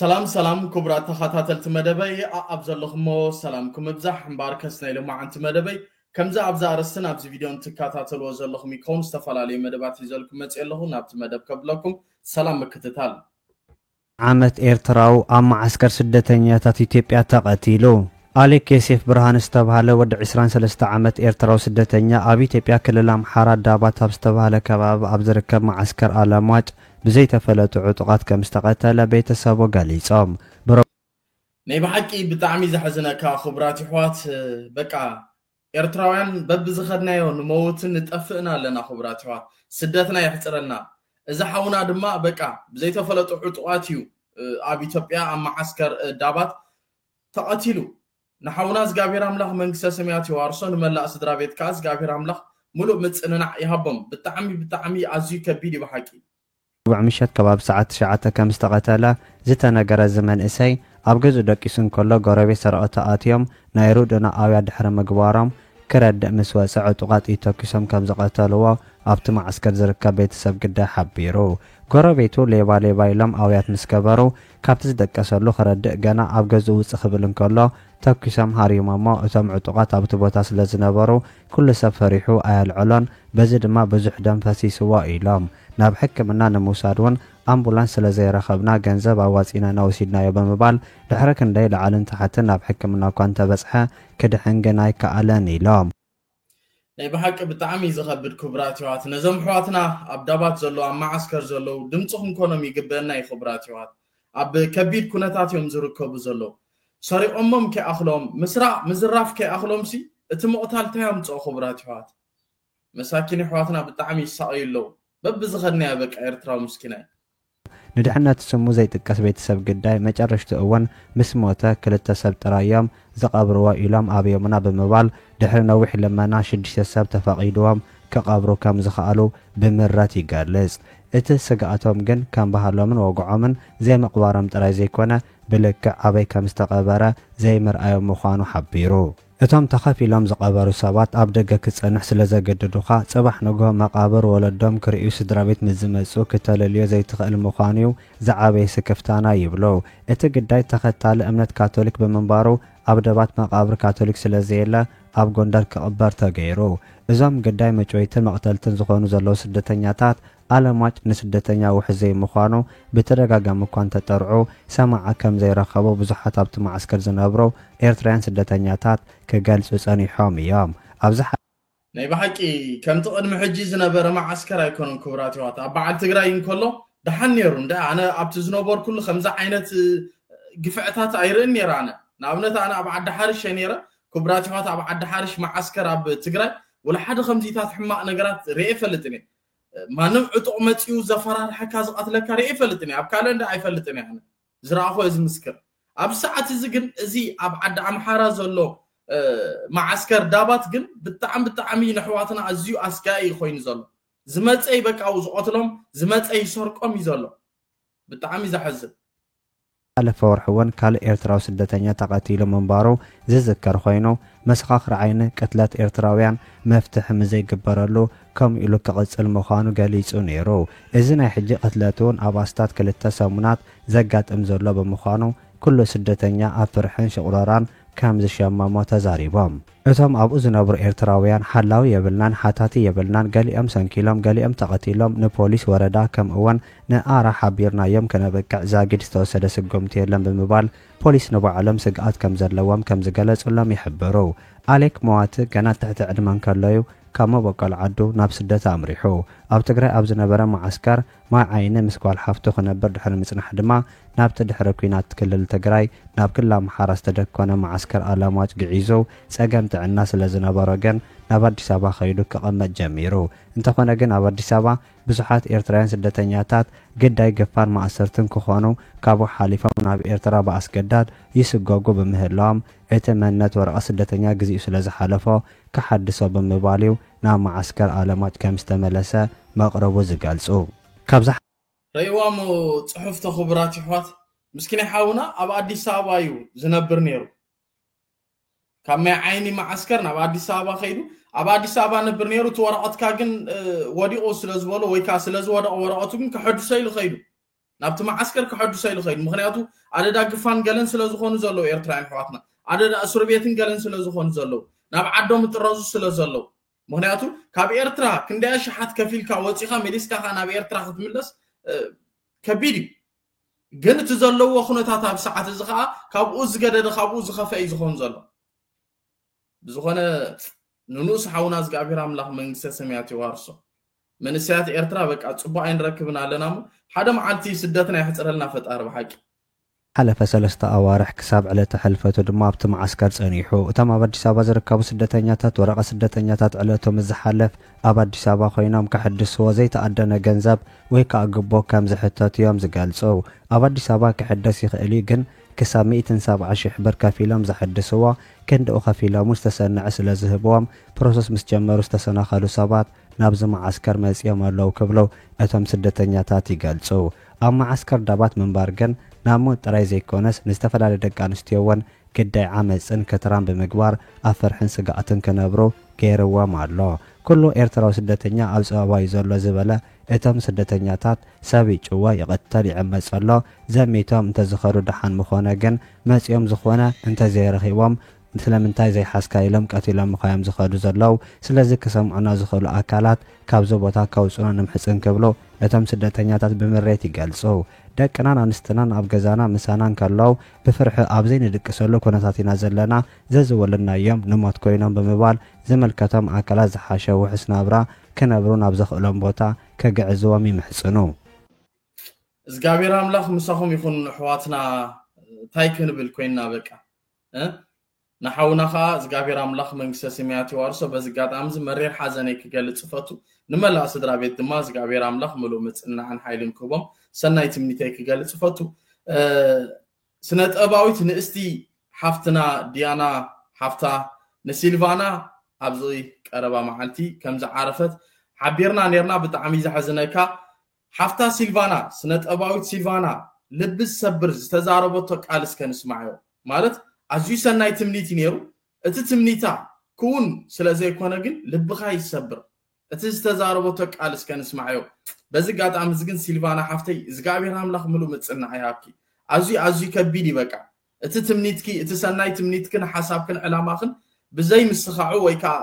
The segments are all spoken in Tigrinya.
ሰላም ሰላም ክቡራት ተኸታተልቲ መደበይ ኣብ ዘለኹሞ ሰላምኩም እብዛሕ እምበኣር ከስ ናይ ሎማዓንቲ መደበይ ከምዚ ኣብዚ ኣርስትን ኣብዚ ቪድዮን ትከታተልዎ ዘለኹም ይከውን ዝተፈላለዩ መደባት ሒዘልኩም መፅእ ኣለኹ ናብቲ መደብ ከብለኩም ሰላም ምክትታል ዓመት ኤርትራዊ ኣብ መዓስከር ስደተኛታት ኢትዮጵያ ተቐቲሉ። ኣሌክ ዮሴፍ ብርሃን ዝተብሃለ ወዲ 23 ዓመት ኤርትራዊ ስደተኛ ኣብ ኢትዮጵያ ክልል ኣምሓራ ዳባት ኣብ ዝተብሃለ ከባቢ ኣብ ዝርከብ መዓስከር ኣለምዋጭ ብዘይተፈለጡ ዕጡቓት ከም ዝተቐተለ ቤተሰቡ ገሊጾም። ናይ ብሓቂ ብጣዕሚ ዘሕዝነካ ክቡራት ይሕዋት በቃ ኤርትራውያን በብዝኸድናዮ ንመውትን ንጠፍእን ኣለና ክቡራት ይሕዋት ስደትና የሕጽረልና እዚ ሓውና ድማ በቃ ብዘይተፈለጡ ዕጡቓት እዩ ኣብ ኢትዮጵያ ኣብ መዓስከር ዳባት ተቐቲሉ ንሓውና እዝጋብሄር ኣምላኽ መንግስተ ሰማያት የዋርሶ ንመላእ ስድራቤት ከኣ እዝጋብሄር ኣምላኽ ምሉእ ምጽንናዕ ይሃቦም ብጣዕሚ ብጣዕሚ ኣዝዩ ከቢድ እዩ ብሓቂ። ሮቡዕ ምሸት ከባቢ ሰዓት ትሽዓተ ከም ዝተቐተለ ዝተነገረ እዚ መንእሰይ፣ ኣብ ገዝኡ ደቂሱ እንከሎ ጎረቤት ሰረቕቲ ኣትዮም ናይ ርድኡና ኣውያት ድሕሪ ምግባሮም፣ ክረድእ ምስ ወጸ ዕጡቓት ጥይት ተኲሶም ከም ዝቐተልዎ ኣብቲ መዓስከር ዝርከብ ቤተሰብ ግዳይ ሓቢሩ። ጎረቤቱ ሌባ ሌባ ኢሎም ኣውያት ምስ ገበሩ፣ ካብቲ ዝደቀሰሉ ክረድእ ገና ኣብ ገዝኡ ውጽእ ክብል እንከሎ ተኲሶም ሃርዩሞሞ እቶም ዕጡቓት ኣብቲ ቦታ ስለ ዝነበሩ ኩሉ ሰብ ፈሪሑ ኣየልዐሎን በዚ ድማ ብዙሕ ደም ፈሲስዎ ኢሎም። ናብ ሕክምና ንምውሳድ እውን ኣምቡላንስ ስለ ዘይረኸብና ገንዘብ ኣዋጺእና ኢና ወሲድናዮ ብምባል ድሕሪ ክንደይ ላዕልን ታሕትን ናብ ሕክምና እኳ እንተበጽሐ ክድሕን ግን ኣይከኣለን ኢሎም። ናይ ብሓቂ ብጣዕሚ እዩ ዝኸብድ ክብራት ይዋት ነዞም ኣሕዋትና ኣብ ዳባት ዘሎ ኣብ መዓስከር ዘለው ድምፂ ክንኮኖም ይግበእና እዩ ክብራት ይዋት ኣብ ከቢድ ኩነታት እዮም ዝርከቡ ዘለው ሰሪቆሞም ከይኣኽሎም ምስራቅ ምዝራፍ ከይኣኽሎምሲ እቲ ምቕታል ታይ ኣምፅኦ ክብራት ይዋት መሳኪን ኣሕዋትና ብጣዕሚ ይሳቀዩ ኣለው በብዝኸድናዮ በቃ ኤርትራዊ ምስኪናይ ንድሕነት ስሙ ዘይጥቀስ ቤተሰብ ግዳይ መጨረሽትኡ እውን ምስ ሞተ ክልተ ሰብ ጥራይ እዮም ዝቐብርዎ ኢሎም ኣብዮምና ብምባል ድሕሪ ነዊሕ ልመና ሽዱሽተ ሰብ ተፈቒድዎም ክቐብሩ ከም ዝኸኣሉ ብምረት ይገልጽ። እቲ ስግኣቶም ግን ከም ባህሎምን ወግዖምን ዘይምቕባሮም ጥራይ ዘይኮነ ብልክዕ ኣበይ ከም ዝተቐበረ ዘይምርኣዮም ምዃኑ ሓቢሩ። እቶም ተኸፊሎም ዝቐበሩ ሰባት ኣብ ደገ ክትጸንሕ ስለ ዘገድዱኻ፣ ጽባሕ ንግሆ መቓብር ወለዶም ክርእዩ ስድራቤት ምስ ዝመጽኡ ክተለልዮ ዘይትኽእል ምዃኑ'ዩ ዝዓበየ ስክፍታና ይብሉ። እቲ ግዳይ ተኸታሊ እምነት ካቶሊክ ብምንባሩ ኣብ ደባት መቓብር ካቶሊክ ስለ ዘየለ ኣብ ጎንደር ክቕበር ተገይሩ። እዞም ግዳይ መጭወይትን መቕተልትን ዝኾኑ ዘለዉ ስደተኛታት ኣለማጭ ንስደተኛ ውሕስ ዘይምዃኑ ብተደጋጋሚ እኳ እንተጠርዑ ሰማዒ ከም ዘይረኸቡ ብዙሓት ኣብቲ መዓስከር ዝነብሩ ኤርትራውያን ስደተኛታት ክገልጹ ጸኒሖም እዮም። ኣብዚ ናይ ብሓቂ ከምቲ ቅድሚ ሕጂ ዝነበረ መዓስከር ኣይኮነን ክቡራት የሕዋት ኣብ በዓል ትግራይ እንከሎ ደሓን ኔሩ እንድዒ ኣነ ኣብቲ ዝነበርኩሉ ከምዚ ዓይነት ግፍዕታት ኣይርእን ኔረ ኣነ ንኣብነት ኣነ ኣብ ዓዲ ሓርሽ እየ ኔረ ክቡራት የሕዋት ኣብ ዓዲ ሓርሽ መዓስከር ኣብ ትግራይ ወላ ሓደ ከምዚታት ሕማቅ ነገራት ሪኤ ኣይፈልጥን እየ ማንም ዕጡቕ መጺኡ ዘፈራርሐካ ዝቐትለካ ርእየ ኣይፈልጥን እየ ኣብ ካልእ እንዳ ኣይፈልጥን እየ ኣነ ዝረኣኹ እየ ዝምስክር ኣብዚ ሰዓት እዚ ግን እዚ ኣብ ዓዲ ኣምሓራ ዘሎ መዓስከር ዳባት ግን ብጣዕሚ ብጣዕሚ ንሕዋትና ኣዝዩ ኣስጋኢ እዩ ኮይኑ ዘሎ ዝመፀይ በቃ ዝቐትሎም ዝመፀይ ይሰርቆም እዩ ዘሎ ብጣዕሚ ዘሐዝን ዝሓለፈ ወርሒ እውን ካልእ ኤርትራዊ ስደተኛ ተቐቲሉ ምንባሩ ዝዝከር ኾይኑ፣ መሰኻኽር ዓይኒ ቅትለት ኤርትራውያን መፍትሒ ምዘይግበረሉ ከምኡ ኢሉ ክቕጽል ምዃኑ ገሊጹ ነይሩ። እዚ ናይ ሕጂ ቅትለት'ውን ኣብ ኣስታት ክልተ ሰሙናት ዘጋጥም ዘሎ ብምዃኑ፣ ኩሉ ስደተኛ ኣብ ፍርሕን ሽቑረራን ከምዝሸመሞ ተዛሪቦም። እቶም ኣብኡ ዝነብሩ ኤርትራውያን ሓላዊ የብልናን ሓታቲ የብልናን ገሊኦም ሰንኪሎም ገሊኦም ተቐቲሎም ንፖሊስ ወረዳ ከምእወን ንኣራ ሓቢርናዮም ከነብቅዕ ዛጊድ ዝተወሰደ ስጉምቲ የለን ብምባል ፖሊስ ንባዕሎም ስግኣት ከምዘለዎም ከምዝገለጹሎም ይሕብሩ። ኣሌክ መዋቲ ገና ኣብ ትሕቲ ዕድመ እንከሎዩ ካብ መበቆል ዓዱ ናብ ስደት ኣምሪሑ ኣብ ትግራይ ኣብ ዝነበረ መዓስከር ማይ ዓይኒ ምስ ጓል ሓፍቱ ክነብር ድሕሪ ምጽናሕ ድማ ናብቲ ድሕሪ ኲናት ክልል ትግራይ ናብ ክልል ኣምሓራ ዝተደኮነ መዓስከር ኣለማጭ ግዒዙ ጸገም ጥዕና ስለ ዝነበሮ ግን ናብ ኣዲስ ኣበባ ከይዱ ክቕመጥ ጀሚሩ እንተኾነ ግን ኣብ ኣዲስ ኣበባ ብዙሓት ኤርትራውያን ስደተኛታት ግዳይ ግፋን ማእሰርትን ክኾኑ ካብኡ ሓሊፎም ናብ ኤርትራ ብኣስገዳድ ይስጎጉ ብምህላዎም እቲ መንነት ወረቐት ስደተኛ ግዚኡ ስለ ዝሓለፎ ክሓድሶ ብምባል'ዩ ናብ መዓስከር ኣለማጭ ከም ዝተመለሰ መቕርቡ ዝገልጹ ካብ ርእዋሞ ጽሑፍቶ ክቡራት ይሕዋት ምስኪናይ ሓውና ኣብ ኣዲስ ኣበባ እዩ ዝነብር ነይሩ ካብ ማይ ዓይኒ መዓስከር ናብ ኣዲስ ኣበባ ከይዱ ኣብ ኣዲስ ኣበባ ነብር ነይሩ እቲ ወረቐትካ ግን ወዲቑ ስለ ዝበሎ ወይ ከዓ ስለ ዝወደቐ ወረቐቱ ግን ከሐድሶ ኢሉ ከይዱ ናብቲ መዓስከር ከሐድሶ ኢሉ ከይዱ ምክንያቱ ኣደዳ ግፋን ገለን ስለ ዝኮኑ ዘለው ኤርትራውያን ኣሕዋትና ኣደዳ እስርቤትን ገለን ስለ ዝኮኑ ዘለው ናብ ዓዶም እጥረዙ ስለ ዘለው ምክንያቱ ካብ ኤርትራ ክንደይ ኣሽሓት ከፊልካ ወጺኻ መሊስካ ከ ናብ ኤርትራ ክትምለስ ከቢድ እዩ ግን እቲ ዘለዎ ኩነታት ኣብ ሰዓት እዚ ከዓ ካብኡ ዝገደደ ካብኡ ዝኸፈ እዩ ዝኸውን ዘሎ ብዝኾነ ንንኡስ ሓውና እዝግኣብሄር ኣምላኽ መንግስተ ሰማያት የዋርሶ። መንእሰያት ኤርትራ በቃ ጽቡቕ ኣይንረክብን ኣለና እሞ ሓደ መዓልቲ ስደትና የሕጽረልና ፈጣሪ ብሓቂ። ሓለፈ ሰለስተ ኣዋርሕ ክሳብ ዕለተ ሕልፈቱ ድማ ኣብቲ መዓስከር ጸኒሑ። እቶም ኣብ ኣዲስ ኣበባ ዝርከቡ ስደተኛታት ወረቐት ስደተኛታት ዕለቱ ምስ ዝሓልፍ ኣብ ኣዲስ ኣበባ ኮይኖም ከሕድስዎ ዘይተኣደነ ገንዘብ ወይ ከኣ ግቦ ከም ዝሕተቱ'ዮም ዝገልጹ። ኣብ ኣዲስ ኣበባ ክሕደስ ይኽእል'ዩ ግን ክሳብ ሚእትን ሰብዓ ሽሕ ብር ከፊሎም ዘሐድስዎ ክንድኡ ከፊሎምውን ዝተሰነዐ ስለ ዝህብዎም ፕሮሰስ ምስ ጀመሩ ዝተሰናኸሉ ሰባት ናብዚ መዓስከር መጺኦም ኣለዉ ክብሉ እቶም ስደተኛታት ይገልጹ። ኣብ መዓስከር ዳባት ምንባር ግን ናብ ሞት ጥራይ ዘይኮነስ ንዝተፈላለየ ደቂ ኣንስትዮ'ውን ግዳይ ዓመጽን ክትራን ብምግባር ኣብ ፍርሕን ስግኣትን ክነብሩ ገይርዎም ኣሎ። ኩሉ ኤርትራዊ ስደተኛ ኣብ ጸበባ'ዩ ዘሎ ዝበለ እቶም ስደተኛታት ሰብ ይጭወ ይቅተል ይዕመጽ ኣሎ ዘሚቶም እንተዝኸዱ ደሓን ምኾነ ግን መጺኦም ዝኾነ እንተዘይረኺቦም ስለምንታይ ዘይሓዝካ ኢሎም ቀቲሎምኻ እዮም ዝኸዱ ዘለዉ ስለዚ ክሰምዑና ዝኽእሉ ኣካላት ካብዚ ቦታ ከውጹና ንምሕጽን ክብሉ እቶም ስደተኛታት ብምሬት ይገልጹ ደቅናን ኣንስትናን ኣብ ገዛና ምሳና እንከለዉ ብፍርሒ ኣብዘይንድቅሰሉ ኩነታት ኢና ዘለና ዘዝወለድናዮም ንሞት ኮይኖም ብምባል ዝምልከቶም ኣካላት ዝሓሸ ውሑስ ናብራ ክነብሩ ናብ ዘኽእሎም ቦታ ከግዕዝዎም ይምሕጽኑ። እዝጋብሄር ኣምላኽ ምሳኹም ይኹን ኣሕዋትና ታይ ክንብል ኮይንና በቃ እ ንሓውና ከኣ እዝጋብሄር ኣምላኽ መንግስተ ስማያት የዋርሶ በዚ ኣጋጣሚ እዚ መሪር ሓዘነይ ክገልጽ እፈቱ ንመላእ ስድራቤት ድማ እዝጋብሄር ኣምላኽ ምሉእ ምጽንናዕን ሓይልን ክህቦም ሰናይ ትምኒተይ ክገልጽ እፈቱ ስነጥበባዊት ንእስቲ ሓፍትና ዲያና ሓፍታ ንሲልቫና ኣብዚ ቀረባ መዓልቲ ከምዝዓረፈት ሓቢርና ኔርና ብጣዕሚ እዩ ዘሕዝነካ ሓፍታ ሲልቫና ስነጥበባዊት ሲልቫና ልቢ ዝሰብር ዝተዛረበቶ ቃል እስከ ንስማዕዮ ማለት ኣዝዩ ሰናይ ትምኒት እዩ ኔሩ እቲ ትምኒታ ክውን ስለዘይኮነ ግን ልብኻ እዩ ዝሰብር እቲ ዝተዛረበቶ ቃል እስከ ንስማዕዮ በዚ ጋጣሚ እዚ ግን ሲልቫና ሓፍተይ እዝግኣብሄር ኣምላኽ ምሉእ ምጽናዕ ይሃብኪ ኣዝዩ ኣዝዩ ከቢድ እዩ በቃ እቲ ትምኒትኪ እቲ ሰናይ ትምኒትክን ሓሳብክን ዕላማኽን ብዘይ ምስኻዑ ወይ ከኣ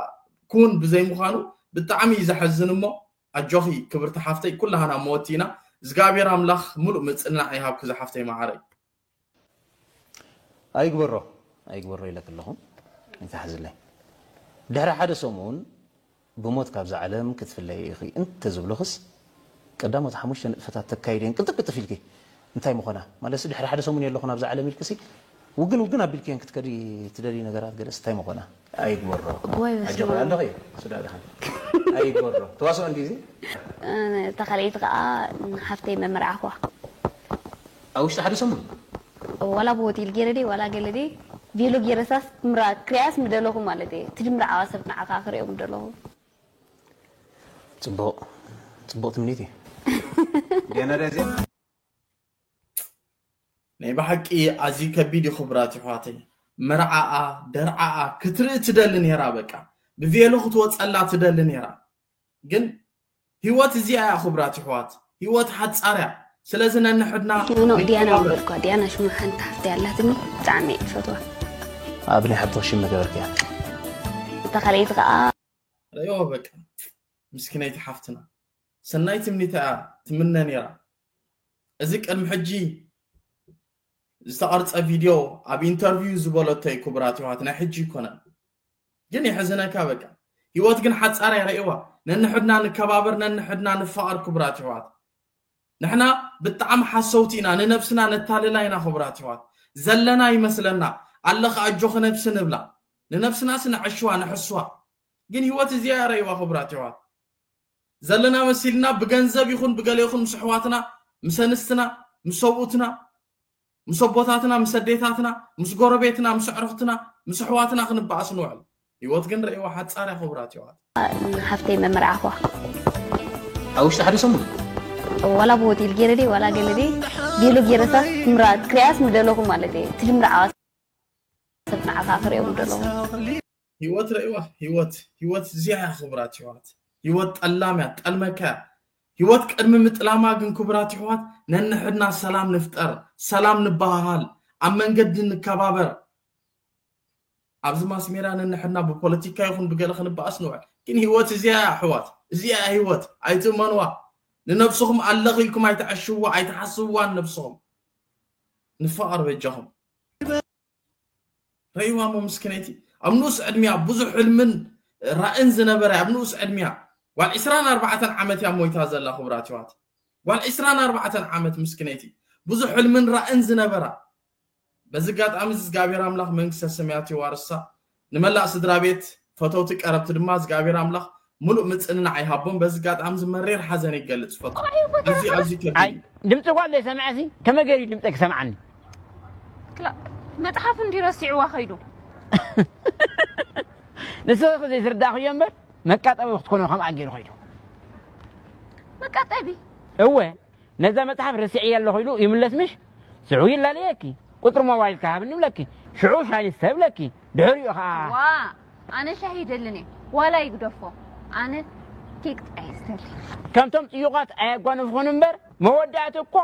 ክውን ብዘይ ምዃኑ ብጣዕሚ እዩ ዘሐዝን እሞ ኣጆኺ ክብርቲ ሓፍተይ ኩላህና መወቲ ኢና እዝግኣብሄር ኣምላኽ ምሉእ ምጽናዕ ይሃብኪ ዝሓፍተይ መዓረይ ኣይግበሮ ኣይግበሮ ኢለኪ ኣለኹ ኣይትሓዝለይ ድሕሪ ሓደ ሰሙን ብሞት ካብዛ ዓለም ክትፍለይ ኢኺ እንተ ዝብሉኽስ ቀዳሞት ሓሙሽተ ንጥፈታት ተካይዲ እየን ቅልጥፍ ቅልጥፍ ኢልኪ እንታይ ምኾና ማለትሲ ድሕሪ ሓደ ሰሙን የለኹን ኣብዛ ዓለም ኢልኪሲ ውግን ውግን ኣቢልክየን ክትከዲ ትደልዪ ነገራት ገለስ እንታይ ምኾና ኣይግበሮ እዋይ ኣጆኺ በስመኣብ። ኣለኺ ስድራ ድሓን ኣይግበሮ ተዋስኦ እንድዩ እዚ። እታ ካልኣይቲ ከኣ ንሓፍተይ መመርዓኹዋ። ኣብ ውሽጢ ሓደ ሰሙን። ዋላ ብ ሆቴል ጌረ ድየ ዋላ ገለ ድየ ቬሎ ጌረሳስ ክምራ ክሪኣስ ምደለኹ ማለት እየ እቲ ድምርዓዋ ሰብ ንዓኻ ክሪኦ ምደለኹ። ጽቡቅ ጽቡቅ ትምኒት እዩ። ዲያና ድያ እዚኣ። ናይ ብሓቂ ኣዝዩ ከቢድ ዩ ክብራት ይሕዋተይ መርዓኣ ደርዓኣ ክትርኢ ትደሊ ነይራ በቃ ብቬሎ ክትወጸላ ትደሊ ነይራ ግን ህይወት እዚኣ እያ ክብራት ይሕዋት ህይወት ሓጻርያ ስለዚ ነንሕድና ኖኖ ዲያና ወልኳ ዲያና ሽሙ ሓንቲ ሓፍቲ ኣላትኒ ብጣዕሚ እየ ዝፈትዋ ኣብ ናይ ሓብትኽ ሽም መገበርክያ እታ ካልኣይቲ ከዓ ረዮ በቃ ምስኪነይቲ ሓፍትና ሰናይ ትምኒታ እያ ትምነ ነይራ እዚ ቅድሚ ሕጂ ዝተቐርጸ ቪድዮ ኣብ ኢንተርቪው ዝበለቶ እዩ ክቡራት ይዋት ናይ ሕጂ ይኮነን ግን የሕዝነካ በቃ ህይወት ግን ሓፃር እያ ርእዋ ነንሕድና ንከባበር ነንሕድና ንፋቐር ክቡራት ይዋት ንሕና ብጣዕሚ ሓሰውቲ ኢና ንነብስና ነታልላ ኢና ክቡራት ይዋት ዘለና ይመስለና ኣለኻ ኣጆኺ ነብሲ ንብላ ንነብስናስ ነዐሽዋ ንሕስዋ ግን ህይወት እዚኣ ርእዋ ክቡራት ይዋት ዘለና መሲልና ብገንዘብ ይኹን ብገለ ይኹን ምስ ኣሕዋትና ምስ ኣንስትና ምስ ሰብኡትና ምስ ኣቦታትና ምስ ኣዴታትና ምስ ጎረቤትና ምስ ኣዕሩኽትና ምስ ኣሕዋትና ክንበኣስ ንውዕል ህይወት ግን ርእይዋ ሓጻር እያ ክቡራት የዋት ሓፍተይ መምርዓኹዋ ኣብ ውሽጢ ሓደ ሰሙን ዋላ ብሆቴል ገይረ ድየ ዋላ ገለ ድየ ገሉ ገይረሳስ ክሪኣስ ምደለኹ ማለት እየ እቲ ልምርዓዋ ሰብ ንዓኻ ክሪኦም ደለኹ ሂወት ረኢዋ ሂወት ሂወት እዚኣ እያ ክብራት ይሕዋት ሂወት ጠላም እያ ጠልመካ እያ ሂወት ቅድሚ ምጥላማ ግን ክብራት ይሕዋት ነንሕድና ሰላም ንፍጠር ሰላም ንበሃሃል ኣብ መንገዲ ንከባበር ኣብዚ ማስሜራ ነንሕድና ብፖለቲካ ይኹን ብገለ ክንበኣስ ንውዕል ግን ሂወት እዚኣ እያ ኣሕዋት እዚኣ እያ ሂወት ኣይትእመንዋ ንነብስኹም ኣለኺ ኢልኩም ኣይትዐሽዋ ኣይትሓስብዋን ነብስኹም ንፋቐር በጃኹም ረይዋ እሞ ምስኪነይቲ ኣብ ንኡስ ዕድሚያ ብዙሕ ሕልምን ራእን ዝነበረ ኣብ ንኡስ ዕድሚያ ጓል ዕስራን ኣርባዕተን ዓመት እያ ሞይታ ዘላ ክቡራት ይዋት ጓል ዕስራን ኣርባዕተን ዓመት ምስኪነይቲ ብዙሕ ሕልምን ራእን ዝነበራ በዚ ኣጋጣሚ እዚ እግዚኣብሔር ኣምላኽ መንግስተ ሰማያት የዋርሳ ንመላእ ስድራቤት ፈተውቲ ቀረብቲ ድማ እዝግኣብሄር ኣምላኽ ምሉእ ምጽንናዕ ይሃቦም በዚ ኣጋጣሚ እዚ መሪር ሓዘነይ ክገልጽ ይፈቱ ኣዝዩ ኣዝዩ ከቢድ ኣይ እዩ ድምፂ እኳ እንዶ ሰምዐ ሲ ከመይ ገይሩ እዩ ድምፀ ክሰምዓኒ ክላ መጽሓፍ እንዲ ረሲዕዋ ከይዱ ንስኺ ዘይስርዳእኽዮ እምበር መቃጠቢ ክትኮኖ ከምኣ ገይሩ ከይዱ መቃጠቢ እወ ነዛ መጽሓፍ ረሲዐያ ኣለኹ ኢሉ ይምለስ ምሽ ሽዑ ይላለየኪ ቁጽሪ ሞባይልኪ ሃብኒ ይብለኪ ሽዑ ሻሂ ንስተ ይብለኪ ድሕሪኡ ከኣ ዋእ ኣነ ሻሂ ይደልን እየ ዋላ ይግደፎ ኣነ ኬክ ጥራይ እየ ዝደሊ። ከምቶም ጥዩቓት ኣየጓንፍኹን እምበር መወዳእቲ እኮ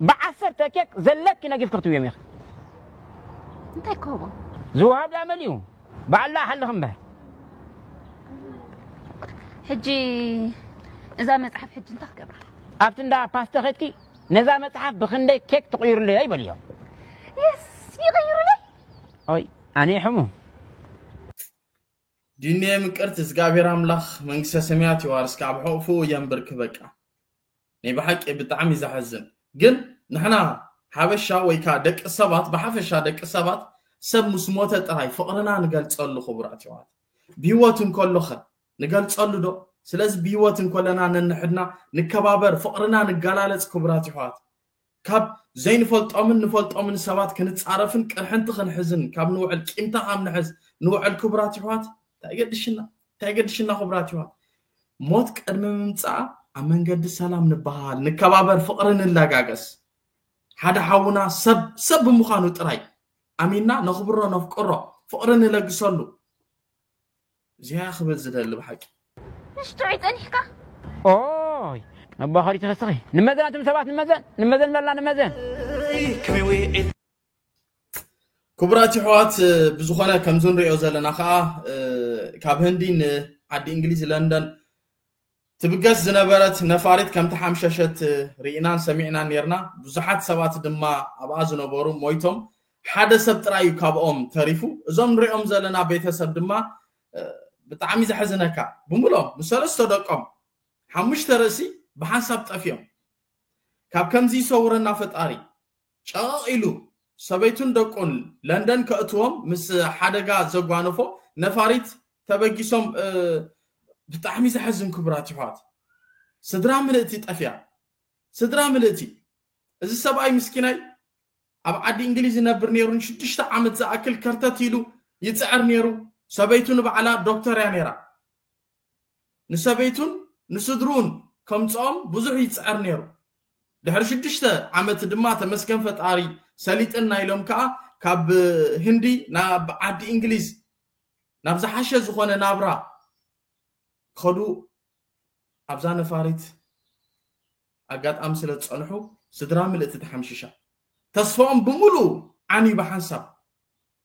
ብዓሰርተ ኬክ ዘለኪ ነጊፍኪ ክትብዮም ኢኺ። እንታይ ክህቦ? ዝወሃብ ድኣ መሊኡ ባዕላ ሓልኽ እምበር ሕጂ እዛ መጽሓፍ ሕጂ እንታይ ክገብራ ኣብቲ እንዳ ፓስተ ኸድኪ ነዛ መጽሓፍ ብክንደይ ኬክ ትቕይሩለይ በልዮ የስ ይቕይሩለይ ኦይ ኣነ ሕሙ ዲኔ ምቅርት እግዚኣብሔር ኣምላኽ መንግስተ ሰማያት የዋርስካ ኣብ ሕቕፍኡ የንብርክ በቃ ናይ ብሓቂ ብጣዕሚ ዘሐዝን ግን ንሕና ሓበሻ ወይ ከኣ ደቂ ሰባት ብሓፈሻ ደቂ ሰባት ሰብ ምስ ሞተ ጥራይ ፍቅርና ንገልጸሉ ክቡራት የሕዋት ብሂወት እንከሎኸ ንገልጸሉ ዶ ስለዚ ብሂወት እንከለና ነንሕድና ንከባበር ፍቅርና ንገላለጽ ክቡራት የሕዋት ካብ ዘይንፈልጦምን ንፈልጦምን ሰባት ክንጻረፍን ቅርሕንቲ ክንሕዝን ካብ ንውዕል ቂምታ ካብ ንሕዝ ንውዕል ክቡራት ይሕዋት እንታይ ገድሽና እንታይ ገድሽና ክቡራት ይሕዋት ሞት ቅድሚ ምምጻኣ ኣብ መንገዲ ሰላም ንበሃል ንከባበር ፍቕሪ ንላጋገስ ሓደ ሓውና ሰብ ሰብ ብምዃኑ ጥራይ ኣሚንና ነኽብሮ ነፍቅሮ ፍቕሪ ንለግሰሉ እዚኣ ክብል ዝደሊ ብሓቂ። ትሽ ጥዑይ ጸኒሕካ። ኦይ መባኸሪ ትፈስኺ ንመዘን ኣቱም ሰባት ንመዘን ንመዘን በላ ንመዘን ክቡራት ይሕዋት ብዝኾነ ከምዚ ንሪኦ ዘለና ከዓ ካብ ህንዲ ንዓዲ እንግሊዝ ለንደን ትብገስ ዝነበረት ነፋሪት ከም ተሓምሸሸት ርኢናን ሰሚዕናን ኔርና፣ ብዙሓት ሰባት ድማ ኣብኣ ዝነበሩ ሞይቶም፣ ሓደ ሰብ ጥራይ እዩ ካብኦም ተሪፉ፣ እዞም ንሪኦም ዘለና ቤተሰብ ድማ ብጣዕሚ ዘሕዝነካ ብምሎም ምስ ሰለስተ ደቆም ሓሙሽተ ርእሲ ብሓንሳብ ጠፊኦም ካብ ከምዚ ይሰውረና ፈጣሪ ጨቐቕ ኢሉ ሰበይቱን ደቁን ለንደን ከእትዎም ምስ ሓደጋ ዘጓነፎ ነፋሪት ተበጊሶም ብጣዕሚ ዘሕዝን ክቡራት ይሕዋት ስድራ ምልእቲ ጠፊኣ ስድራ ምልእቲ እዚ ሰብኣይ ምስኪናይ ኣብ ዓዲ እንግሊዝ ይነብር ነይሩ ንሽዱሽተ ዓመት ዝኣክል ከርተት ኢሉ ይፅዕር ነይሩ ሰበይቱ ንባዕላ ዶክተር እያ ነይራ ንሰበይቱን ንስድርኡን ከምጽኦም ብዙሕ ይጽዕር ነይሩ። ድሕሪ ሽዱሽተ ዓመት ድማ ተመስገን ፈጣሪ ሰሊጥና ኢሎም ከኣ ካብ ህንዲ ናብ ዓዲ እንግሊዝ ናብ ዝሓሸ ዝኾነ ናብራ ክኸዱ ኣብዛ ነፋሪት ኣጋጣሚ ስለ ዝጸንሑ ስድራ ምልእቲ ተሓምሺሻ። ተስፋኦም ብምሉኡ ዓንዩ ብሓንሳብ።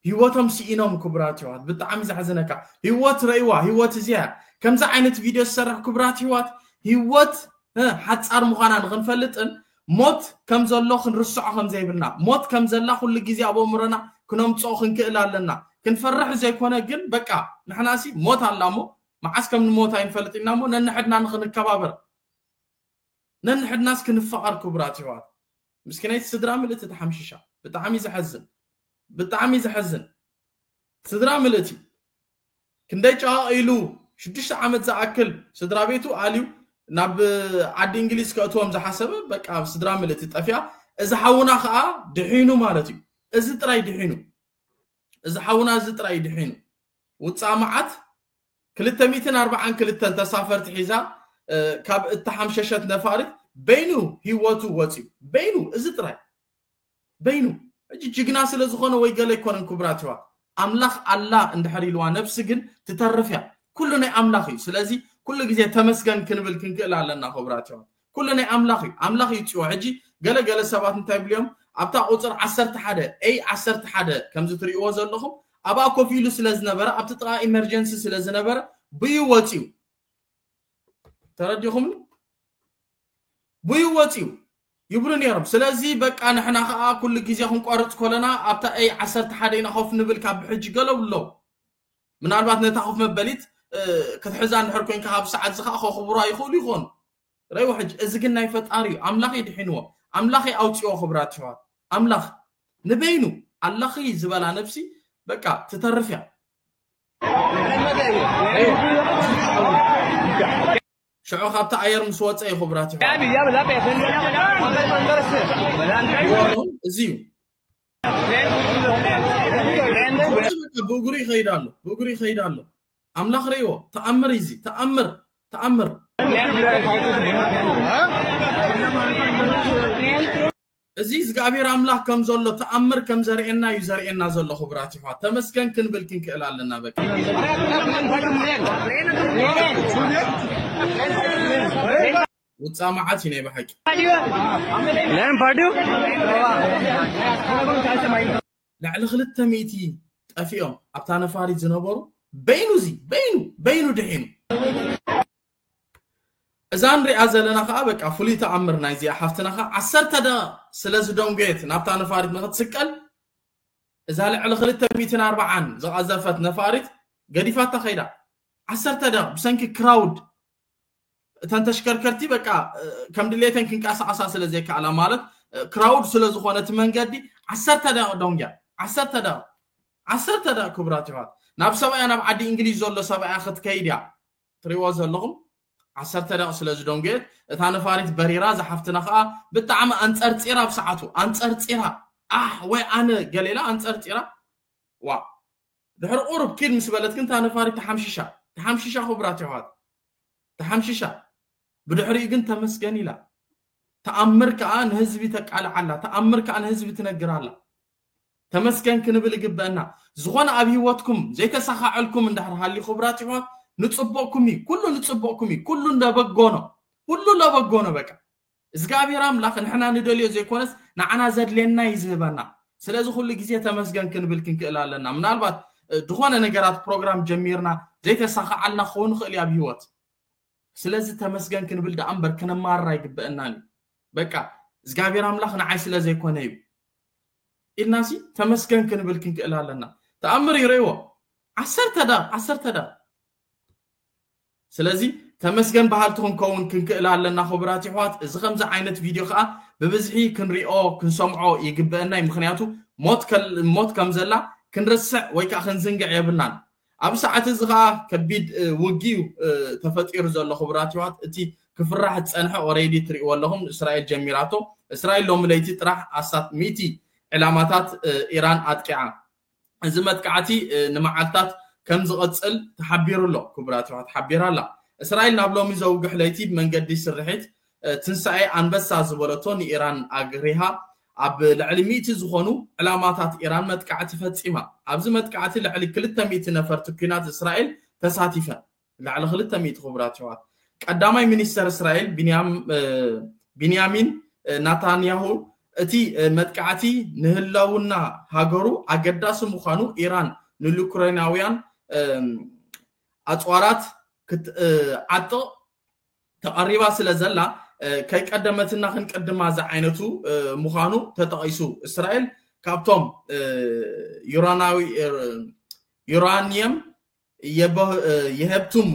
ሂወቶም ሲኢኖም ክቡራት የሕዋት ብጣዕሚ ዘሕዝነካ ሂወት ረእዋ ሂወት እዚኣ እያ ከምዚ ዓይነት ቪድዮ ዝሰርሕ ክቡራት የሕዋት ሂወት ሓጻር ምዃና ንኽንፈልጥን ሞት ከም ዘሎ ክንርስዖ ከም ዘይብልና ሞት ከም ዘላ ኩሉ ግዜ ኣብ ኣእምሮና ክነምጽኦ ክንክእል ኣለና ክንፈርሕ ዘይኮነ ግን በቃ ንሕናሲ ሞት ኣላ እሞ መዓስ ከም ንሞት ኣይንፈልጥ ኢና እሞ ነንሕድና ንኽንከባበር ነንሕድናስ ክንፋቀር ክቡራት የሕዋት ምስኪነይቲ ስድራ ምልእቲ ተሓምሺሻ ብጣዕሚ ዘሐዝን ብጣዕሚ ዘሐዝን ስድራ ምልእቲ ክንደይ ጨቓቒሉ ሽዱሽተ ዓመት ዝኣክል ስድራ ቤቱ ኣልዩ ናብ ዓዲ እንግሊዝ ከእትዎም ዝሓሰበ በቃ ስድራ ምልእቲ ጠፊኣ እዚ ሓውና ከዓ ድሒኑ ማለት እዩ እዚ ጥራይ ድሒኑ እዚ ሓውና እዚ ጥራይ እዩ ድሒኑ። ውጻእ መዓት ክልተ ሚእትን ኣርብዓን ክልተን ተሳፈርቲ ሒዛ ካብ እተሓምሸሸት ነፋሪት በይኑ ህይወቱ ወጺኡ በይኑ እዚ ጥራይ በይኑ ሕጂ ጅግና ስለ ዝኾነ ወይ ገለ ኣይኮነን ክቡራት ይዋ ኣምላኽ ኣላ እንድሕር ኢልዋ ነብሲ ግን ትተርፍ እያ ኩሉ ናይ ኣምላኽ እዩ ስለዚ ኩሉ ግዜ ተመስገን ክንብል ክንክእል ኣለና ክቡራት ይዋ ኩሉ ናይ ኣምላኽ እዩ ኣምላኽ ይውጽኦ ሕጂ ገለ ገለ ሰባት እንታይ ይብሉ እዮም ኣብታ ቁጽር ዓሰርተ ሓደ a ዓሰርተ ሓደ ከምዚ ትርእይዎ ዘለኹም ኣብኣ ኮፍ ኢሉ ስለ ዝነበረ ኣብቲ ጥቓ ኢመርጀንሲ ስለ ዝነበረ ብዩ ወጽዩ ተረዲኹምኒ ብዩ ወጽዩ ይብሉ ነይሮም ስለዚ በቃ ንሕና ከዓ ኩሉ ግዜ ክንቆርፅ ኮለና ኣብታ ኤይ ዓሰርተ ሓደ ኢና ኮፍ ንብል ካብ ብሕጂ ገለብሎ ምናልባት ነታ ኮፍ መበሊት ክትሕዛ እንድሕር ኮንካ ካብ ሰዓት እዚ ከዓ ከኽብሯ ይኽእሉ ይኾኑ ረይዎ ሕጂ እዚ ግን ናይ ፈጣሪ እዩ ኣምላኽ እዩ ድሒንዎ ኣምላኽ እዩ ኣውፅኦ ክብራት ይሕዋት ኣምላኽ ንበይኑ ኣለኺ ዝበላ ነብሲ በቃ ትተርፍ እያ ሽዑ ካብቲ ኣየር ምስ ወፀ እዩ ክብራት ይሕዋት እዚ እዩ ብእግሩ ይኸይድ ኣሎ ብእግሩ ይኸይድ ኣሎ ኣምላኽ ርእይዎ ተኣምር እዩ እዚ ተኣምር ተኣምር እዚ እግዚኣብሔር ኣምላኽ ከም ዘሎ ተኣምር ከም ዘርእየና እዩ ዘርእየና ዘሎ ክቡራት ይሕዋ ተመስገን ክንብል ክንክእል ኣለና በቃ Thank you. ውፃእ መዓት እዩ ናይ ብሓቂ ላይም ፓርዲዩ ልዕሊ ክልተ ሚእቲ ጠፊኦም ኣብታ ነፋሪት ዝነበሩ በይኑ እዚ በይኑ በይኑ ድሒኑ እዛ ንሪኣ ዘለና ከዓ በቃ ፍሉይ ተኣምር ናይ እዚኣ ሓፍትና ከዓ ዓሰርተ ደቂቕ ስለ ዝደንጎየት ናብታ ነፋሪት ንክትስቀል እዛ ልዕሊ ክልተ ሚእትን ኣርባዓን ዝቐዘፈት ነፋሪት ገዲፋታ ከይዳ ዓሰርተ ደቂቕ ብሰንኪ ክራውድ እተን ተሽከርከርቲ በቃ ከም ድሌተን ክንቀሳቐሳ ስለ ዘይከኣላ ማለት ክራውድ ስለ ዝኾነ እቲ መንገዲ ዓሰርተ ደቂቕ ዶንግያ ዓሰርተ ደቂቕ ዓሰርተ ደቂቕ ክቡራት ይዋት ናብ ሰብኣያ ናብ ዓዲ እንግሊዝ ዘሎ ሰብኣያ ክትከይድ እያ ትሪእዎ ዘለኹም ዓሰርተ ደቂቕ ስለ ዝደንጎየት እታ ነፋሪት በሪራ ዝሓፍትና ከዓ ብጣዕሚ ኣንፀርፂራ ኣብ ሰዓቱ ኣንፀርፂራ ኣሕ ወይ ኣነ ገሌላ ኣንፀርፂራ ዋ ድሕሪ ቁሩብ ኪድ ምስ በለት ግን እታ ነፋሪት ተሓምሺሻ። ተሓምሺሻ ክቡራት የሕዋት። ተሓምሺሻ። ብድሕሪኡ ግን ተመስገን ኢላ። ተኣምር ከኣ ንህዝቢ ተቃልዕ ኣላ። ተኣምር ከኣ ንህዝቢ ትነግር ኣላ። ተመስገን ክንብል ይግበአና። ዝኾነ ኣብ ህይወትኩም ዘይተሳኻዐልኩም እንድሕር ሃልዩ ክቡራት የሕዋት ንጽቡቕኩም እዩ። ኩሉ ንጽቡቕኩም እዩ። ኩሉ ለበጎ ነው። ሁሉ ለበጎ ነው በቃ። እዝግኣብሄር ኣምላኽ ንሕና ንደልዮ ዘይኮነስ ንዓና ዘድልየና እዩ ዝህበና። ስለዚ ኩሉ ግዜ ተመስገን ክንብል ክንክእል ኣለና። ምናልባት ድኾነ ነገራት ፕሮግራም ጀሚርና ዘይተሳኻዓልና ክኸውን ይኽእል እዩ ኣብ ህይወት። ስለዚ ተመስገን ክንብል ደኣ እምበር ክነማርር ኣይግበእናን እዩ። በቃ እዝግኣብሄር ኣምላኽ ንዓይ ስለ ዘይኮነ እዩ ኢልናሲ ተመስገን ክንብል ክንክእል ኣለና። ተኣምር ይርእይዎ ዓሰርተ ዳር ዓሰርተ ዳር ስለዚ ተመስገን በሃልቲ ክንከውን ክንክእል ኣለና ክቡራት ይሕዋት እዚ ከምዚ ዓይነት ቪድዮ ከዓ ብብዝሒ ክንሪኦ ክንሰምዖ ይግበአናይ ምክንያቱ ሞት ከም ዘላ ክንርስዕ ወይ ከዓ ክንዝንግዕ የብልናን ኣብ ሰዓት እዚ ከዓ ከቢድ ውጊ እዩ ተፈጢሩ ዘሎ ክቡራት ይሕዋት እቲ ክፍራሕ ዝፀንሐ ኦረይዲ ትሪእዎ ኣለኹም እስራኤል ጀሚራቶ እስራኤል ሎሚ ለይቲ ጥራሕ ኣስታት ሚእቲ ዕላማታት ኢራን ኣጥቂዓ እዚ መጥቃዕቲ ንመዓልታት ከም ዝቕጽል ተሓቢሩ ኣሎ፣ ክቡራት የሕዋት ሓቢራ ኣላ። እስራኤል ናብ ሎሚ ዘውግሕ ለይቲ ብመንገዲ ስርሒት ትንሳኤ ኣንበሳ ዝበለቶ ንኢራን ኣግሪሃ ኣብ ልዕሊ ሚእቲ ዝኾኑ ዕላማታት ኢራን መጥቃዕቲ ፈጺማ። ኣብዚ መጥቃዕቲ ልዕሊ ክልተ ሚእቲ ነፈርቲ ኲናት እስራኤል ተሳቲፈን። ልዕሊ ክልተ ሚእቲ ክቡራት የሕዋት ቀዳማይ ሚኒስተር እስራኤል ቢንያሚን ናታንያሁ እቲ መጥቃዕቲ ንህላውና ሃገሩ ኣገዳሲ ምዃኑ ኢራን ንዩክሬናውያን ኣፅዋራት ክትዓጥቕ ተቐሪባ ስለ ዘላ ከይቀደመትና ክንቅድማ ዝዓይነቱ ምዃኑ ተጠቒሱ እስራኤል ካብቶም ዩራኒየም የሀብትሙ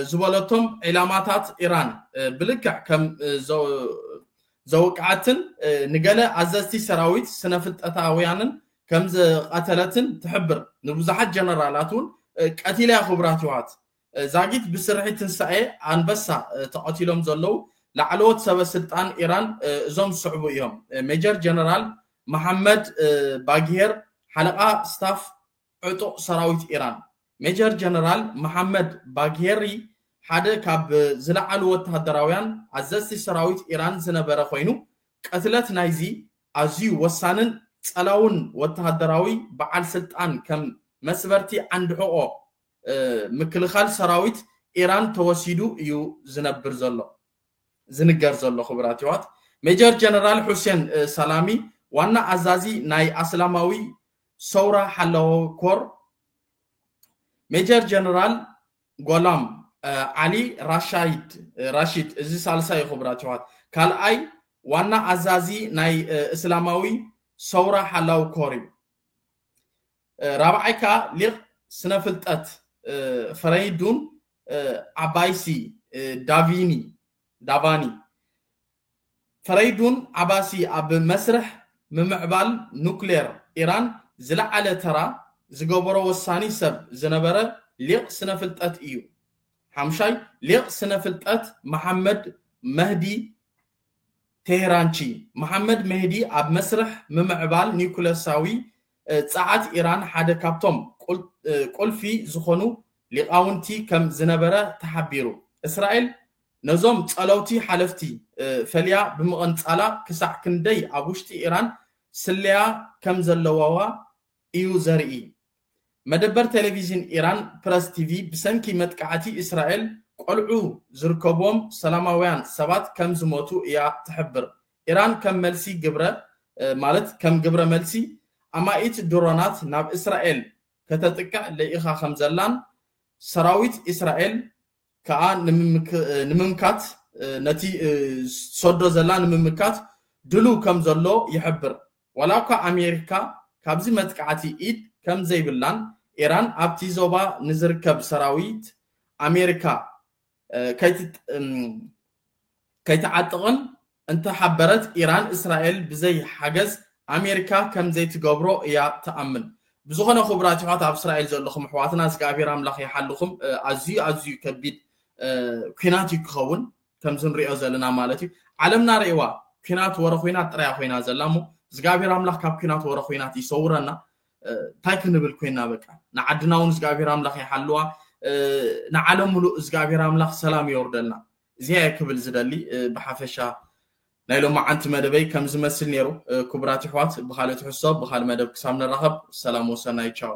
ዝበለቶም ዒላማታት ኢራን ብልክዕ ከም ዘውቅዐትን ንገለ ኣዘዝቲ ሰራዊት ስነፍልጠታውያንን ከም ዝቐተለትን ትሕብር። ንብዙሓት ጀነራላት እውን ቀቲላ'ያ ክቡራት የሕዋት። ዛጊት ብስርሒት ትንሳኤ ኣንበሳ ተቐቲሎም ዘለዉ ላዕለዎት ሰበ ስልጣን ኢራን እዞም ዝስዕቡ እዮም፣ ሜጀር ጀነራል መሓመድ ባግሄር ሓለቓ ስታፍ ዕጡቕ ሰራዊት ኢራን፣ ሜጀር ጀነራል መሓመድ ባግሄሪ ሓደ ካብ ዝለዓሉ ወተሃደራውያን ኣዘዝቲ ሰራዊት ኢራን ዝነበረ ኮይኑ፣ ቅትለት ናይዚ ኣዝዩ ወሳንን ጸላውን ወተሃደራዊ በዓል ስልጣን ከም መስበርቲ ዓንዲ ሕቖ ምክልኻል ሰራዊት ኢራን ተወሲዱ እዩ ዝነብር ዘሎ ዝንገር ዘሎ። ክቡራት የሕዋት ሜጀር ጀነራል ሑሴን ሰላሚ ዋና ኣዛዚ ናይ ኣስላማዊ ሰውራ ሓላዎ ኮር ሜጀር ጀነራል ጓላም ዓሊ ራሻይድ ራሺድ እዚ ሳልሳይ እዩ ክቡራት ይዋት ካልኣይ ዋና ኣዛዚ ናይ እስላማዊ ሰውራ ሓላዊ ኮር እዩ ራብዓይ ከዓ ሊቅ ስነ ፍልጠት ፈረይዱን ዓባይሲ ዳቪኒ ዳቫኒ ፈረይዱን ዓባሲ ኣብ መስርሕ ምምዕባል ኑክሌር ኢራን ዝለዓለ ተራ ዝገበሮ ወሳኒ ሰብ ዝነበረ ሊቕ ስነ-ፍልጠት እዩ። ሓምሻይ ሊቕ ስነ-ፍልጠት መሓመድ መህዲ ቴህራንቺ፣ መሓመድ ሜህዲ ኣብ መስርሕ ምምዕባል ኒኩለሳዊ ጸዓት ኢራን ሓደ ካብቶም ቁልፊ ዝኾኑ ሊቃውንቲ ከም ዝነበረ ተሓቢሩ። እስራኤል ነዞም ጸለውቲ ሓለፍቲ ፈልያ ብምቕንጻላ ክሳዕ ክንደይ ኣብ ውሽጢ ኢራን ስለያ ከም ዘለዋዋ እዩ ዘርኢ። መደበር ቴሌቪዥን ኢራን ፕረስ ቲቪ ብሰንኪ መጥቃዕቲ እስራኤል ቆልዑ ዝርከቡዎም ሰላማውያን ሰባት ከም ዝሞቱ እያ ትሕብር። ኢራን ከም መልሲ ግብረ ማለት ከም ግብረ መልሲ ኣማኢት ድሮናት ናብ እስራኤል ከተጥቅዕ ልኢኻ ከምዘላን ሰራዊት እስራኤል ከኣ ንምምካት ነቲ ሰዶ ዘላ ንምምካት ድሉው ከም ዘሎ ይሕብር። ዋላ እኳ ኣሜሪካ ካብዚ መጥቃዕቲ ኢድ ከም ዘይብላን ኢራን ኣብቲ ዞባ ንዝርከብ ሰራዊት ኣሜሪካ ከይትዓጥቕን እንተሓበረት ኢራን እስራኤል ብዘይ ሓገዝ ኣሜሪካ ከም ዘይትገብሮ እያ ትኣምን። ብዝኾነ ክቡራት ይሕዋት ኣብ እስራኤል ዘለኹም ኣሕዋትና እግዚኣብሔር ኣምላኽ ይሓልኹም ኣዝዩ ኣዝዩ ከቢድ ኩናት እዩ ክኸውን ከምዚ ንሪኦ ዘለና ማለት እዩ ዓለምና ርእዋ ኩናት ወረ ኩናት ጥራያ ኮይና ዘላ እሞ እግዚኣብሔር ኣምላኽ ካብ ኩናት ወረ ኩናት ይሰውረና እንታይ ክንብል ኮይና በቃ ንዓድና እውን እግዚኣብሔር ኣምላኽ ይሓልዋ ንዓለም ሙሉእ እግዚኣብሔር ኣምላኽ ሰላም የወርደልና እዚኣ እየ ክብል ዝደሊ ብሓፈሻ ናይ ሎሚ ዓንቲ መደበይ ከም ዝመስል ነይሩ ክቡራት ይሕዋት ብካልእ ትሕዝቶ ብካልእ መደብ ክሳብ ንራኸብ ሰላም ወሰናይ ቻው